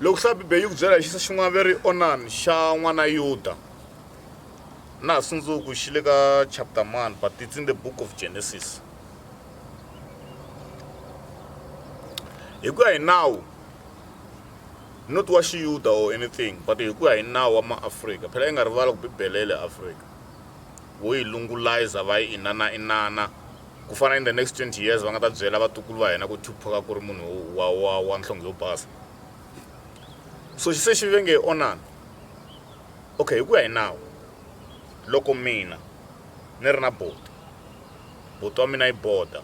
Loko swa Bibele yi ku byela hi xisa xin'wana ve ri Onani xa n'wana Yuda na ha sundzuku xi le ka chapter mani but it's in the book of Genesis hi ku ya hi nawu not wa xiyuda or anything but hi ku ya hi nawu wa maafrika phela yi nga rivala ku bibele ya le afrika vo yi lungulayiza va yi inana inana ku fana in the next 20 years va nga ta byela vatukulu va hina ku tupac ku ri munhu wa wa wa nhlonge yo basa so xi se xi ve nge onani okay hi ku ya hi nawu loko mina ni ri na boti boti wa mina yi boda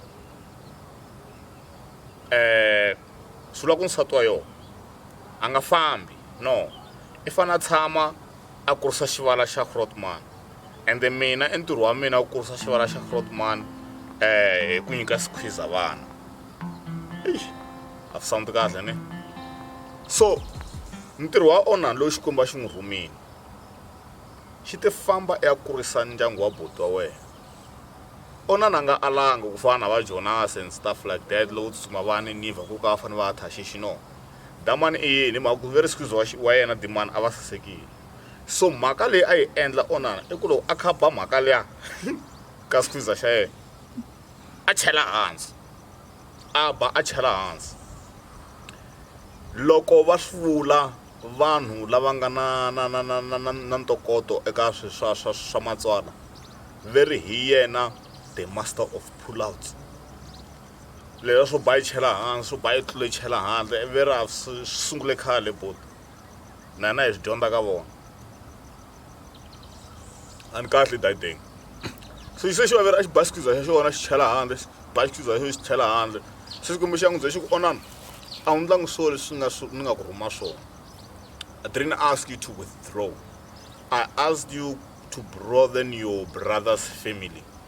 um swi vula ku nsati wa yona a nga fambi no i fanele a tshama a kurisa xivala xa Grootman ende mina e ntirho wa mina wu kurisa xivala xa Grootman eh hi ku nyika squeezer vana eish a swi sound kahle ne so ntirho wa onan loyi xikwembu a xi n'wi rhumile xi te famba i ya kurisa ndyangu wa boti wa wena onan a nga alanga ku fana na va jonase and stuff like that lowo tsutsuma va ninivha ku ka va fanele va ya thaxixi no Damani i yini? Hi mhaka ku veri squeeze wa, wa yena Dimani a va sasekile. So mhaka leyi a yi endla Onana i ku loko a khaba mhaka liya ka squeeze xa yena a chela hansi a ba a chela hansi loko va hlula vanhu lava nga na na na na na na na ntokoto eka swi swa swa swa matswala veri hi yena the master of pullouts lela swo ba yi chela hansi swo ba yi tlule yi chela handle ivi ri a swi sungule khale buti na hina hi swi dyondza ka vona a ni kahle dayideng so xi se xi vavera a xi ba xikhiza xa xona xi chela handle xi ba xikhiza xa xona xi chela handle se xikwembu xa n'wi bye xi ku onana a wu ndlangi swo leswi nga swi ni nga ku rhuma swona i didn't ask you to withdraw i asked you to broaden your brother's family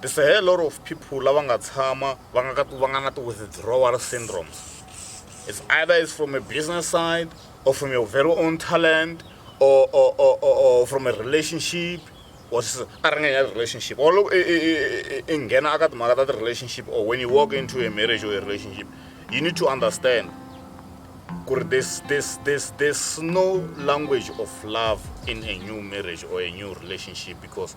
There's a hell lot of people lava nga tshama va nga ka va nga na ti-withdrawal syndromes it's either it's from a business side or from your very own talent or, or, or, or, or from a relationship or a ri nga relationship or loko i nghena aka timhaka ta ti-relationship or when you walk into a marriage or a relationship you need to understand kuri this this this this no language of love in a new marriage or a new relationship because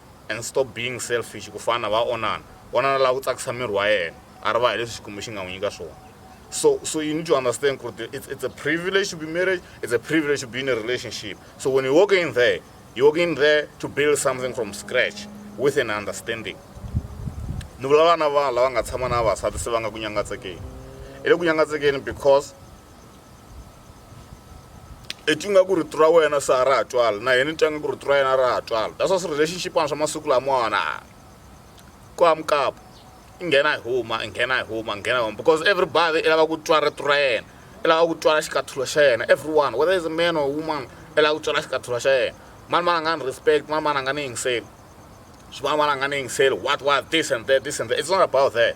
And stop being selfish ku fana va onana onana la ku tsakisa miri wa yena a ri va hileswi xikwembu xi nga n'wi nyika swona so so you need to understand ku ri it's, it's a privilege to be married it's a privilege to be in a relationship so when you walk in there you walk in there to build something from scratch with an understanding ni vulavula na vanhu lava nga tshama na vavasati se va nga ku nyangatsekeni i le ku nyangatsekeni because i twi nga ku rito ra wena se a ra ha twali na yena ni twa nga ku rito ra yena a ra ha twali that's why swi-relationship ana swa masiku lamawani ku hamukapo i nghena hi huma i nghena hi huma nghena huma because everybody i lava ku twa rito ra yena i lava ku twala xikathulo xa yena everyone whether is a man or woman i lava ku twala xikathulo xa yena mani mani a nga ni respect mani mani a nga ni yingiseli swin'wana mani a nga ni yingiseli what what this and that this and that it's not about that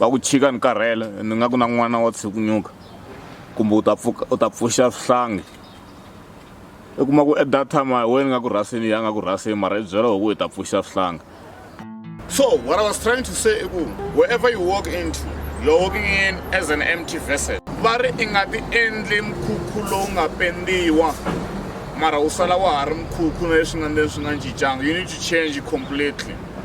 va ku chika ni karhele ni nga ku na n'wana wa tshukunyuka kumbe u ta pfuka u ta pfuxa swihlangi i kuma ku at that time a hi wena nga ku rhasini ya nga ku rhasini mara i byela hi ku hi ta pfuxa swihlangi so what i was trying to say i ku wherever you walk into you're walking in as an empty vessel va ri i nga ti endli mkhukhu lowu nga pendiwa mara u sala wa ha ri mkhukhu na leswi nga ni leswi nga cincanga you need to change completely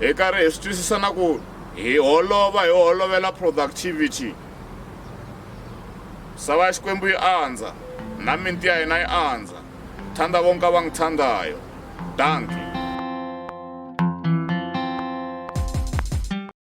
hi karhi hi swi twisisa na ku hi holova hi holovela productivity sava ya xikwembu yi andza na minti ya hina yi andza thanda vonka va n'wi thandayo danki